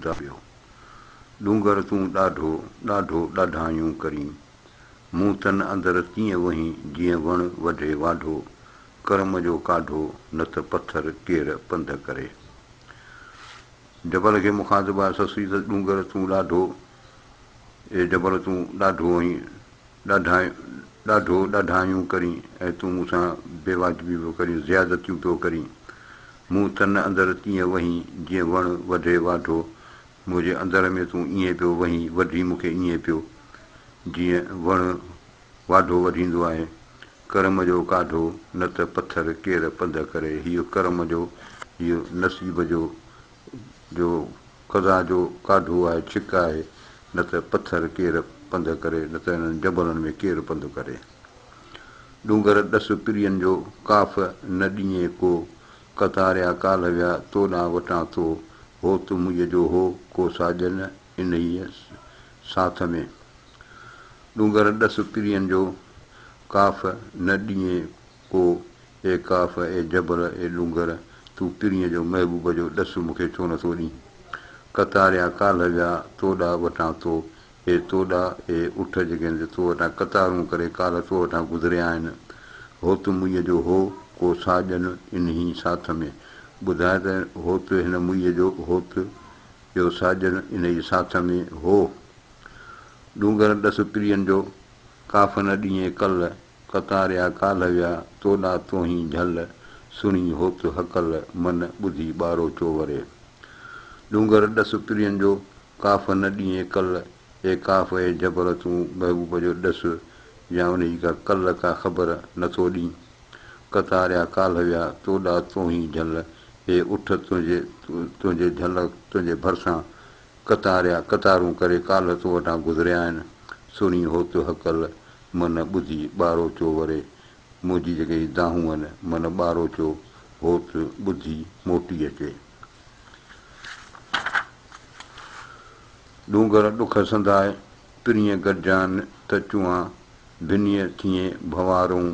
ڊاڍيو ڏونگر تون ڏاڍو، ڏاڍو ڏاڍايون ڪرين. مون تن اندر تيئن وهين جيئن وڻ وڍي واڍو، ڪرم جو ڪاڍو نه ته پٿر ڪير پنڌ ڪري. جبل کي مخاطب آهي سسئي ته ڏونگر تون ڏاڍو، اي جبل تون ڏاڍو آهين، ڏاڍائين، ڏاڍو ڏاڍايون ڪرين ۽ تون مون سان بي واجبي پيو ڪرين، زيادتيون پيو ڪرين. مون تن اندر تيئن وهين جيئن وڻ وڍي واڍو، منهنجي اندر ۾ تون ائين پيو وهين، وڍي مون کي ائين پيو، جيئن وڻ واڍو وڍيندو آهي. ڪرم جو ڪاڍو، نه ته پٿر ڪير پنڌ ڪري. هيء ڪرم جو، هيء نصيب جو، جو خزان جو ڪاڍو آهي ڇڪ آهي نه ته پٿر ڪير پنڌ ڪري نه ته انهن جبلن ۾ ڪير پنڌ ڪري ڏونگر ڏس پرين جو ڪاف نه ڏينء ڪو ڪتاريا ڪالهه ويا تو ڏانهن وٽان ٿو هو تو مئي جو هو ڪو ساڄن انهيء ساٿ ۾ ڏونگر ڏس پرين جو ڪاف نه ڏينء او! اي قاف، اي جبل، اي ڏونگر، تون پرينء جو محبوب جو ڏس مون کي ڇو نه ٿو ڏين؟ قطاريان ڪالهه جا تو ڏا وٺان ٿو، اي تو ڏا، اي اٺ جيڪي هن تي تو وٽان قطارون ڪري ڪالهه تو وٺان گذريا آهن. هوت موئيء جو هو، ڪو ساهه ڏين انهي ساٿ ۾، ٻڌاء ته هوت هن موئيء جو، هوت، ڪو ساهه ڏين انهي ساٿ ۾، هو! ڏونگر ڏس پرين جو، ڪافن ڏينهين ڪل، ڪتاريا ڪالهه ويا، توڏا توهين جهل، سڻي هوت هڪل، من ٻڌي ٻارو چووري. ڏونگر ڏس پرين جو، ڪافن ڏينهين ڪل، اي ڪاف اي جبر تون محبوب جو ڏس يا انهي ڪا ڪل ڪا خبر نه ٿو ڏين. ڪتاريا ڪالهه ويا، توڏا توهين جهل، اي اٺ تنهنجي تنهنجي جهل تنهنجي ڀرسان، قطاريا قطارون ڪري ڪالهه تو وٽان گذريا آهن، سڻي هوت هڪل من ٻڌي ٻاروچو وري، منهنجي جيڪي هي دانهون آهن، من ٻاروچو هوت ٻڌي موٽي اچي. ڏونگر ڏک سنداء پرينء گڏجان ته چوان ڀنيء ٿئين ڀنوارئون،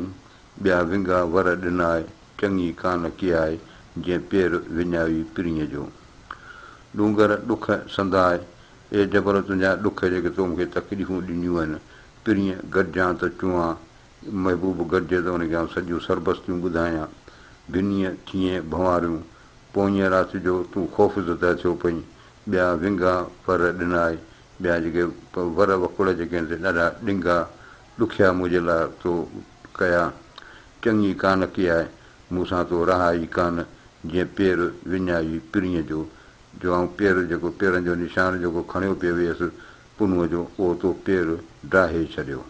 ٻيا ونگا ور ڏنا آء، چڱي ڪانه ڪي آء، جنهن پير وڃائي پرينء جو. ڏونگر ڏک سندان آء، اي جبل تنهنجا ڏک جيڪي تو مون کي تڪليفون ڏنيون آهن، پرينء گڏجان ته چوان، محبوب گڏجي ته ان کي آئون سڄيون سربستيون ٻڌايان. ڀنيء ٿيئين ڀنواريون، پوئينء رات جو تون خوفزده ٿيو پئين، ٻيا ونگا ور ڏنا آء، ٻيا جيڪي ور وڪوڙ جيڪي آهن سي ڏاڍا ڏنگا، ڏکيا منهنجي لاء تو ڪيا، چڱي ڪانه ڪياء، مون سان تو رها ئي ڪانه، جيئن پير وڃائي پرينء جو، جو آئون پير جيڪو پيرن جو نشان جيڪو کڻيو پئي ويس پنهونء جو، اهو تو پير ڊاهي ڇڏيو.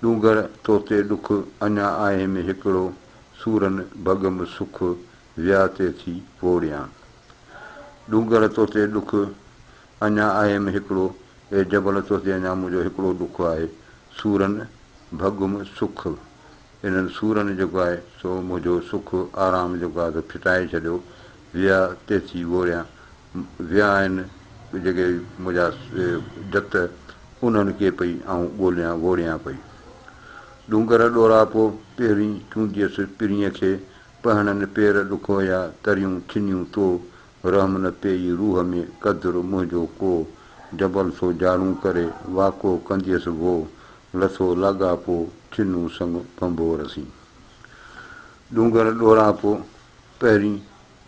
ڏونگر توتي ڏک، اڃا آهي ۾ هڪڙو، سورن ڀڳم سک، ويا تي ٿي ووڙيان. ڏونگر توتي ڏک، اڃا آهيم هڪڙو، اي جبل تو تي اڃا منهنجو هڪڙو ڏک آهي، سورن ڀڳم سک، انهن سورن جيڪو آهي سو منهنجو سک، آرام جيڪو آهي سو ڦٽائي ڇڏيو، ويا تيسين ووريان، ويا آهن جيڪي منهنجا جت، انهن کي پئي آئون ڳوليان ووريان پئي. ڏونگر ڏوراپو پهرين چونڊيس پرينء کي، پهڻن پير ڏکويا تريون ڇنيون تو، رحم نه پيئي روح ۾، قدر منهنجو ڪو، جبل سو جارون ڪري، واڪو ڪنديس وو، لٿو لاڳاپو، ڇنو سڱ ڀنڀور سين. ڏونگر ڏوراپو، پهرين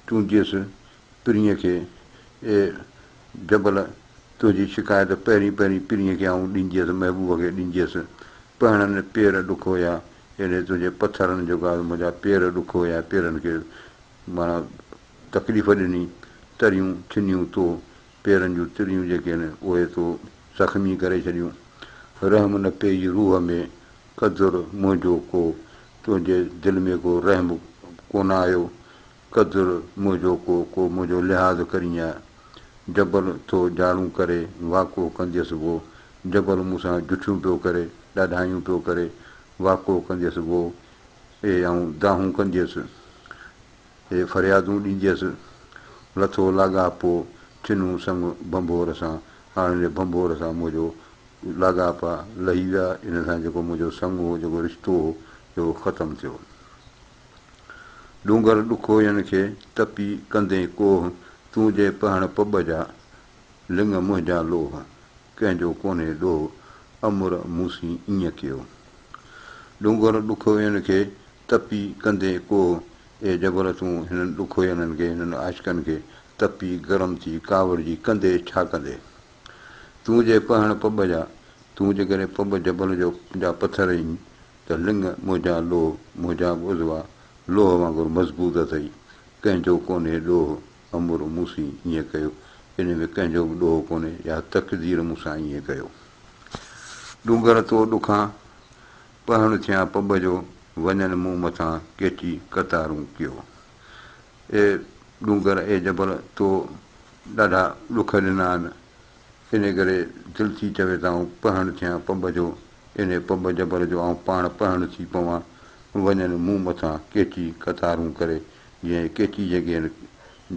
چونڊجيس پرينء کي، اي جبل تنهنجي شڪايت، پهرين پهرين پرينء کي آئون ڏنجيس، محبوب کي ڏنجيس، پهڻن پير ڏک هيا، ايڏي تنهنجي پٿرن جوڳا، منهنجا پير ڏک هيا، پيرن کي. معنيٰ تڪليف ڏني، تريون ٿڃيون تو، پيرن جون تريون جيڪي هن، اهي تو زخمي ڪري ڇڏيون. رحم نه پيئي روح ۾، قدر منهنجو ڪو، تنهنجي دل ۾ ڪو رحم ڪونه آيو، قدر منهنجو ڪو، ڪو منهنجو لحاظ ڪرينء. جبل تو جاڙون ڪري، واڪو ڪنديس وو، جبل مون سان جٺيون پيو ڪري، ڏاڍايون پيو ڪري، واڪو ڪنديس وو. اي آئون دانهون ڪنديس، اي فريادون ڏينديس، لٿو لاڳاپو ڇنون سڱ ڀنڀور سان، هاڻ هن ڀنڀور سان منهنجو لاڳاپا لهي ويا، ان سان جيڪو منهنجو سڱ هو، جيڪو رشتو هو، اهو ختم ٿيو. ڏونگر ڏکوين کي تپي ڪندين ڪوهه، تون جي پهڻ پٻ جا، لڱ منهنجا لوهه، ڪنهن جو ڪونهي ڏوهه، امر موسين ايئن ڪيو. ڏونگر ڏکوين کي، تپي ڪندي ڪوهه، اي جبل تون هنن ڏکوينن کي، هنن عاشقن کي، تپي گرم ٿي ڪاوڙجي ڪندي ڇا ڪندي؟ تون جي پهڻ پٻ جا، تون جيڪڏهن پٻ جبل جو جا پٿر اينء ته لڱ منهنجا لوهه، منهنجا به عضوا لوهه وانگر مضبوط اٿئي، ڪنهن جو ڪونهي ڏوهه، امر مون سين ائين ڪيو، ان ۾ ڪنهن جو به ڏوهه ڪونهي، يا تقدير مون سان ائين ڪيو. ڏونگر تو ڏکان، پهڻ ٿيان پٻ جو، وڃن مون مٿان ڪيچي قطارون ڪيو. اي ڏونگر، اي جبل، تو ڏاڍا ڏک ڏنا آهن، انهي ڪري دل ٿي چوي ته آئون پهڻ ٿيان پٻ جو، انهي پٻ جبل جو آئون پاڻ پهڻ ٿي پوان، وڃن مون مٿان ڪيچي قطارون ڪري، جنهن جي ڪيچي جيڪي آهن،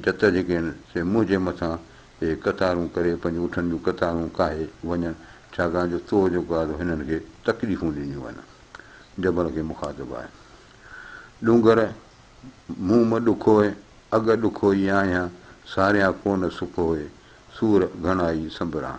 جت جيڪي آهن، سي منهن جي مٿان اهي ڪتارون ڪري پنهنجي اٺن جون ڪتارون ڪاهي وڃن، ڇاڪاڻ جو تو جيڪو آهي سو هنن کي تڪليفون ڏنيون آهن. جبل کي مخاطب آهي. ڏونگر مون م ڏکوئي، اڳ ڏکوئي آهيان، ساريان ڪو نه سکوئي، سور گهڻائي سنبران.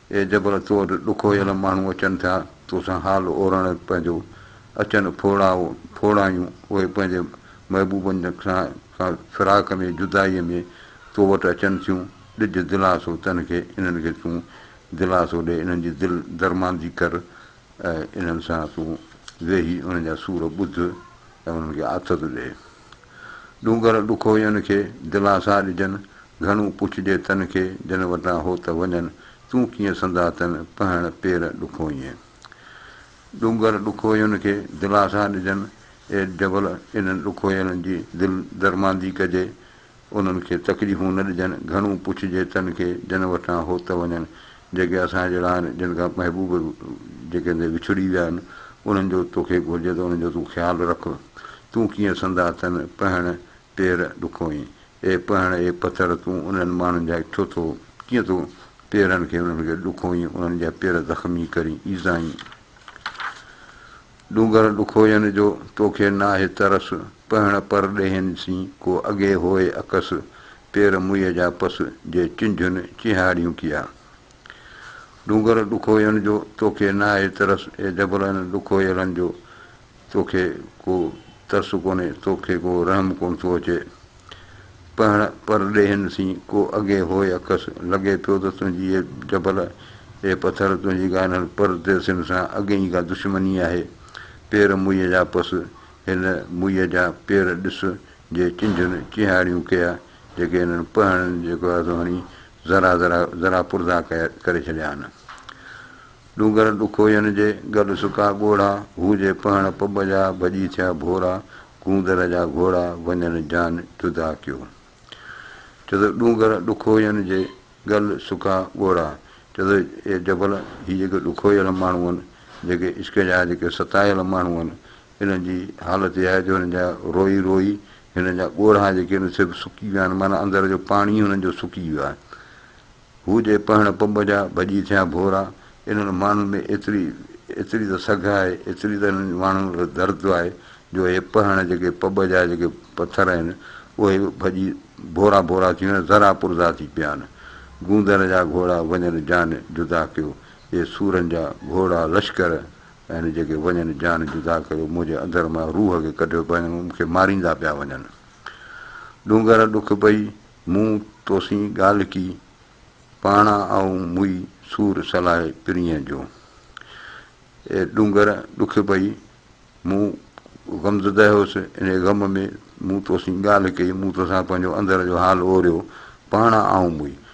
اي جبل تو وٽ ڏکويل ماڻهو اچن ٿيا تو سان حال اورڻ پنهنجو، اچن ڦوڙا ڦوڙايون اهي پنهنجي محبوبن کان فراق ۾ جدائيء ۾ تو وٽ اچن ٿيون، ڏج دلاسو تن کي انهن کي تون دلاسو ڏي انهن جي دل درماندي ڪر ۽ انهن سان تون ويهي انهن جا سور ٻڌ ۽ انهن کي آٿت ڏي. ڏونگر ڏکوئين کي، دلاسا ڏجن، گهڻو پڇجي تن کي، جن وٽان هو ته وڃن، تون ڪيئن سندا تن، پهڻ پير ڏکوئين. ڏونگر ڏکوئين کي، دلاسا ڏجن، اي جبل، انهن ڏکوئيلن جي دل درماندي ڪجي، انهن کي تڪليفون نه ڏجن، گهڻو پڇجي تن کي، جن وٽان هو ته وڃن، جيڪي اسان جهڙا آهن، جن کان محبوب جيڪي ٿي وڇڙي ويا آهن، انهن جو توکي گهرجي ته انهن جو تون خيال رک. تون ڪيئن سندا تن، پهڻ، پير ڏکوئين. اي پهڻ، اي پٿر، تون انهن ماڻهن جا اٺو ٿو، ڪيئن ٿو پيرن کي انهن کي ڏکوئين، انهن جا پير زخمي ڪرين، ايذائين. ڏونگر ڏکوئين جو توکي ناهي ترس، پهڻ، پرڏيهين سين ڪو اڳي هوئي عڪس، پير موئيء جا پس جي چنجهن چيهاڙيون ڪيا. ڏونگر ڏکوئين جو توکي ناهي ترس اي جبلن ڏکوئيلن جو توکي ڪو ترس ڪونهي توکي ڪو رحم ڪونه ٿو اچي. پهڻ پرڏيهين سين ڪو اگهي هوء اکس لڳي پيو ته تنهنجي اي جبل اي پٿر تنهنجي ڪا انهن پرديسين سان اڳي ئي ڪا دشمني آهي. پير موئيء جا پس هن موئيء جا پير ڏس جي چنجهن چيهاڙيون ڪيا، جيڪي انهن پهڻن جي گهازو هڻي ذرا ذرا ذرا پرزا ڪري ڇڏيا آهن. ڏونگر ڏکوين جي گڏ سڪا ڳوڙها، هو جي پهڻ پٻ جا ڀڄي ٿيا ڀورا، گوندر جا گهوڙا وڃن جان جدا ڪيو. چدو ڏونگر ڏکوين جي گل سڪا ڳوڙها، چدو اي جبل، هي جيڪي ڏکويل ماڻهو آهن، جيڪي عشق جا جيڪي ستايل ماڻهو آهن، هنن جي حالت اها آهي جو هنن جا روئي روئي هنن جا ڳورها جيڪي آهن سي به سڪي ويا آهن معنيٰ اندر جو پاڻي ئي هنن جو سڪي ويو آهي. هو جي پهڻ پنب جا ڀڄي ٿيا ڀورا. انهن ماڻهن ۾ ايتري ايتري ته سگهه آهي ايتري ته انهن ماڻهن ۾ درد آهي جو اهي پهڻ جيڪي پنب جا جيڪي پٿر آهن اهي به ڀڄي ڀورا ڀورا ٿي ويا آهن ذرا پرزا ٿي پيا آهن. گوندر جا گهوڙا وڃن جان جدا ڪيو اي سورن جا گهوڙا لشڪر يعني جيڪي وڃن جان جدا ڪريو، منهنجي اندر مان روح کي ڪڍيو پنهنجي مون کي ماريندا پيا وڃن. ڏونگر ڏک پئي مون توسين ڳالهه ڪي، پاڻا آئون موئي سور سلاهي پرينء جو. اي ڏونگر ڏک پئي مون غمزده هيس انهي غم ۾ مون توسين ڳالهه ڪئي، مون توسان پنهنجو اندر جو حال اوريو، پاڻا آئون موئي.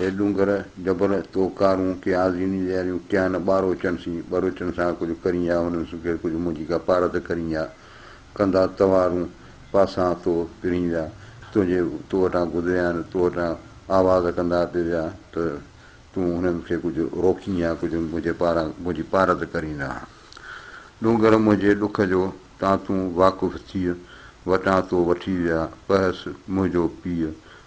اي ڏونگر جبل تو ڪارون ڪي آزيني لياريون ڪيا نه ٻاروچن سين ٻروچن سان ڪجهه ڪرين يا هنن سون ڪي ڪجهه منهنجي ڪا پارت ڪرين يا ڪندا توارون پاسان تو پرين ويا تنهنجي تو وٽان گذريا آهن تو وٽان آواز ڪندا پي ويا ته تون هنن کي ڪجهه روڪين يا ڪجهه منهنجي پاران منهنجي پارت ڪرين آ ڏونگر منهنجي ڏک جو تان تون واقف ٿيء وٽان تو وٺي ويا پهس منهنجو پيء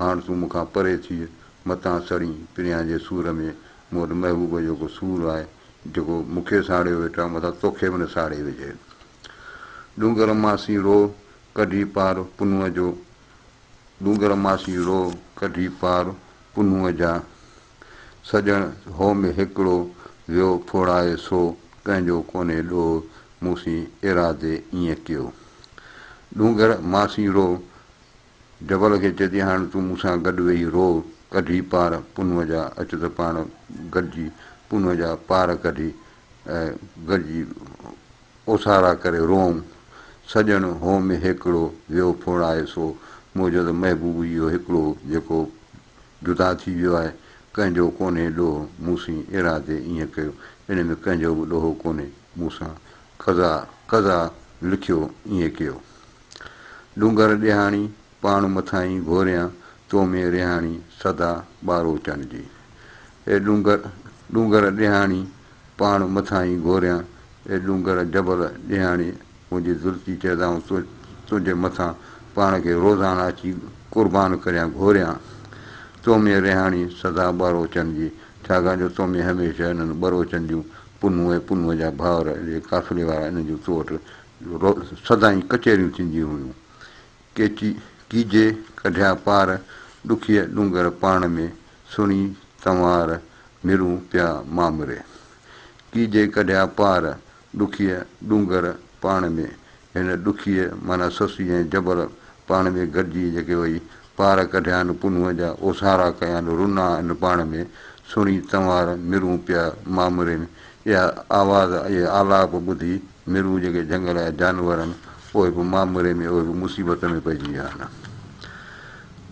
هاڻ تون مون کان پري ٿيء، متان سڙين، پريان جي سور ۾، مون وٽ محبوب جو ڪو سور آهي، جيڪو مون کي ساڙيو ويٺا، متان توکي به نه ساڙي وجهي. ڏونگر ماسي روء ڪڍي پار پنهونء جو ڏونگر ماسي روء ڪڍي پار پنهونء جا، سڄڻ هو ۾ هڪڙو، ويو ڦوڙائي سو، پنهنجو ڪونهي ڏوهه، مون سين ايرادي ائين ڪيو. ڏونگر ماسي روء. جبل کي چئجي هاڻ تون مون سان گڏ ويهي روء ڪڍي پار پنهونء جا اچ ته پاڻ گڏجي پنهونء جا پار ڪڍي ۽ گڏجي اوسارا ڪري روئون. سڄڻ هو ۾ هيڪڙو ويو ڦوڙائي سو منهنجو ته محبوب اهو هيڪڙو جيڪو جدا ٿي ويو آهي ڪنهن جو ڪونهي ڏوهه مون سين ايرا تي ايئن ڪيو ان ۾ ڪنهن جو به ڏوهه ڪونهي مون سان قضا قضا لکيو ايئن ڪيو. ڏونگر ڏيهاڻي، پاڻ مٿاهين گهوريان، تو ۾ رهاڻي، سدا ٻاروچن جي. اي ڏونگر، ڏونگر ڏيهاڻي، پاڻ مٿاهين گهوريان، اي ڏونگر جبل ڏيهاڻي، منهنجي زلفي جي ادائون تو تنهنجي مٿان پاڻ کي روزانه اچي قربان ڪريان گهوريان، تو ۾ رهاڻي، سدا ٻاروچن جي. ڇاڪاڻ جو تو ۾ هميشه انهن ٻروچن جون پنهون ۽ پنهون جا ڀائر جي قافلي وارا انهن جون تو وٽ سدائين ڪچهريون ٿينديون هيون. ڪيچي ڪيجي ڪڍيا پار، ڏکيء ڏونگر پاڻ ۾، سڻي تنوار، مھرون پيا مامري. ڪيجي ڪڍيا پار، ڏکيء ڏونگر پاڻ ۾، هن ڏکيء معنيٰ سستي ۽ جبر پاڻ ۾ گڏجي جيڪي وئي، پار ڪڍيان پنهونء جا، اوسارا ڪيان رنا ان پاڻ ۾، سڻي تنوار، مھرون پيا مامرين، اها آواز، اهي آلاپ ٻڌي ميرون جيڪي جهنگل جا جانور آهن، اهي به مامري ۾ اهي به مصيبت ۾ پئجي ويا آهن.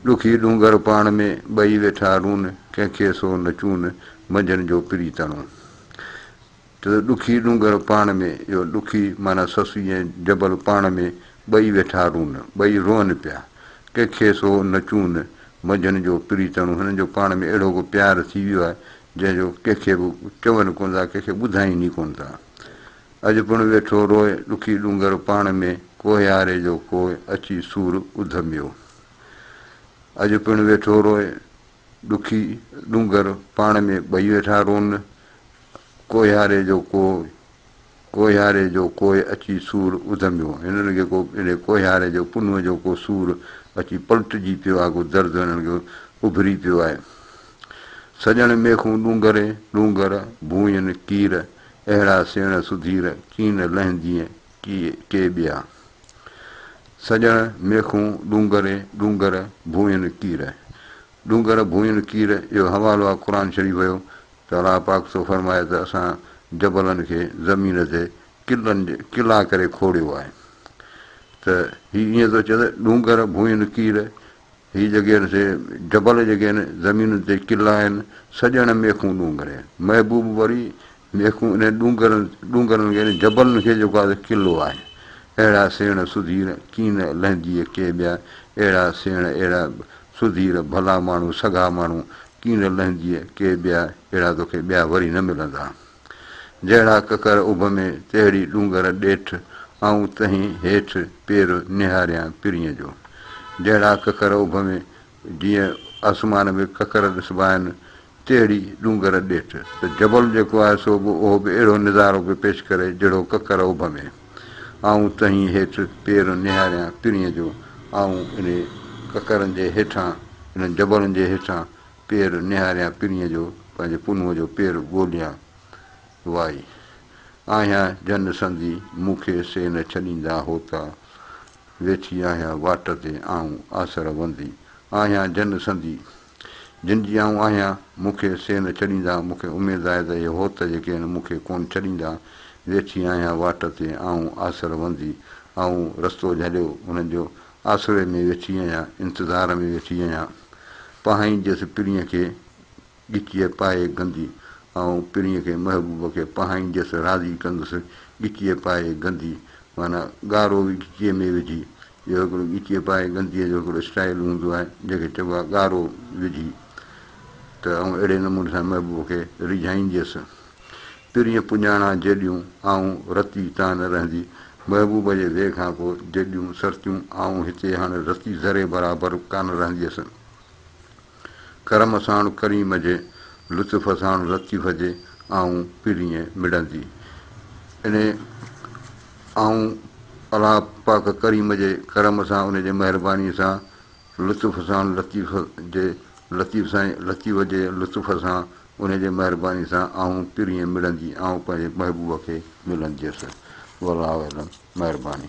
ڏکي ڏونگر پاڻ ۾ ٻئي ويٺا رون، ڪنهن کي سو نه چون، منجهن جو پريتڻو. چئو ته ڏکي ڏونگر پاڻ ۾، اهو ڏکي معنيٰ سسئي ۽ جبل پاڻ ۾ ٻئي ويٺا رون، ٻئي روئن پيا، ڪنهن کي سو نه چون، منجهن جو پريتڻو. هنن جو پاڻ ۾ اهڙو ڪو پيار ٿي ويو آهي، جنهن جو ڪنهن کي به چون ڪونه ٿا، ڪنهن کي ٻڌائين ئي ڪونه ٿا. اڄ پڻ ويٺو روئي ڏکي ڏونگر پاڻ ۾، ڪوهياري جو ڪوهه اچي سور اڌميو. اڄ پڻ ويٺو روئي ڏکي ڏونگر پاڻ ۾، ٻئي ويٺا رون ڪوهياري جو ڪوهه، ڪوهياري جو ڪوهه اچي سور اڌميو. هنن کي ڪو انهي ڪوهياري جو پنهون جو ڪو سور اچي پلٽجي پيو آهي، ڪو درد هنن کي اڀري پيو آهي. سڄڻ ميخون ڏونگر ڏونگر، ڀونئين ڪير، اهڙا سيڻ سڌير، ڪين لهندينء ڪي ٻيا. سڄڻ ميخون ڏونگر ڏونگر، ڀونئين ڪير. ڏونگر ڀونئين ڪير جو حوالو آ قرآن شريف جو ته الله پاڪ ٿو فرمائي ته اسان جبلن کي زمين تي قلعن قلعا ڪري کوڙيو آهي ته هي ائين ٿو چئي ته ڏونگر ڀونئين ڪير هي جيڪي آهن سي جبل جيڪي آهن، زمينن تي قلعا آهن، سڄڻ ميخون ڏونگر آهن. محبوب وري ميخون انهن ڏونگرن، ڏونگرن کي نه جبلن کي جيڪو آهي سو قلعو آهي. اهڙا سيڻ سڌير ڪين نه لهنديء ڪي ٻيا، اهڙا سيڻ اهڙا سڌير ڀلا ماڻهو سگها ماڻهو، ڪين نه لهنديء ڪي ٻيا، اهڙا توکي ٻيا وري نه ملندا. جهڙا ڪڪر اڀ ۾، تهڙي ڏونگر ڏيٺ، آئون تنهين هيٺ، پير نهاريان پرينء جو. جهڙا ڪڪر اڀ ۾، جيئن آسمان ۾ ڪڪر ڏسبا آهن، تهڙي ڏونگر ڏيٺ، ته جبل جيڪو آهي سو به اهو به اهڙو نظارو پيو پيش ڪري جهڙو ڪڪر اڀ ۾. آئون تنهين هيٺ، پير نهاريان پرينء جو، آئون انهي ڪڪرن جي هيٺان، انهن جبلن جي هيٺان، پير نهاريان پرينء جو، پنهنجي پنهونء جو پير ڳوليان وائي. آهيان جن سندي، مون کي سي نه ڇڏيندا هوتا. ويٺي آهيان واٽ تي آئون آسر وندي. آهيان جن سندي، جن جي آئون آهيان، مون کي سي نه ڇڏيندا. مون کي اميد آهي ته اهي هوت جيڪي هن مون کي ڪونه ڇڏيندا. ويٺي آهيان واٽ تي آئون آسر وندي. آئون رستو جهليو انهن جو، آسري ۾ ويٺي آهيان، انتظار ۾ ويٺي آهيان، پاهين جيس پرينء کي ڳچيء پائي گندي، آئون پرينء کي محبوب کي پاهين جيس راضي ڪندس، ڳچيء پائي گندي معنيٰ ڳارو به ڳچيء ۾ وجهي، اهو هڪڙو ڳچيء پائي گنديء جو هڪڙو اسٽائيل هوندو آهي، جنهن کي چئبو آهي ڳارو وجهي، ته آئون اهڙي نموني سان محبوب کي ريجهائينديس. پرينء پڄاڻان جيڏيون آئون رتي تان نه رهندي محبوب جي ويهه کان پوء جيڏيون سرتيون آئون هتي هاڻ رتي ذري برابر ڪانه رهنديس ڪرم ساڻ ڪريم جي لطف ساڻ لطيف جي آئون پرينء مڙندي انهي آئون الله پاڪ ڪريم جي ڪرم سان ان جي مهرباني سان لطف ساڻ لطيف جي لطيف سائين لطيف جي لطف سان انهيء جي مهربانيء سان آئون پرينء مڙندي آئون پنهنجي محبوب کي ملنديس. والله اعلم. مهرباني.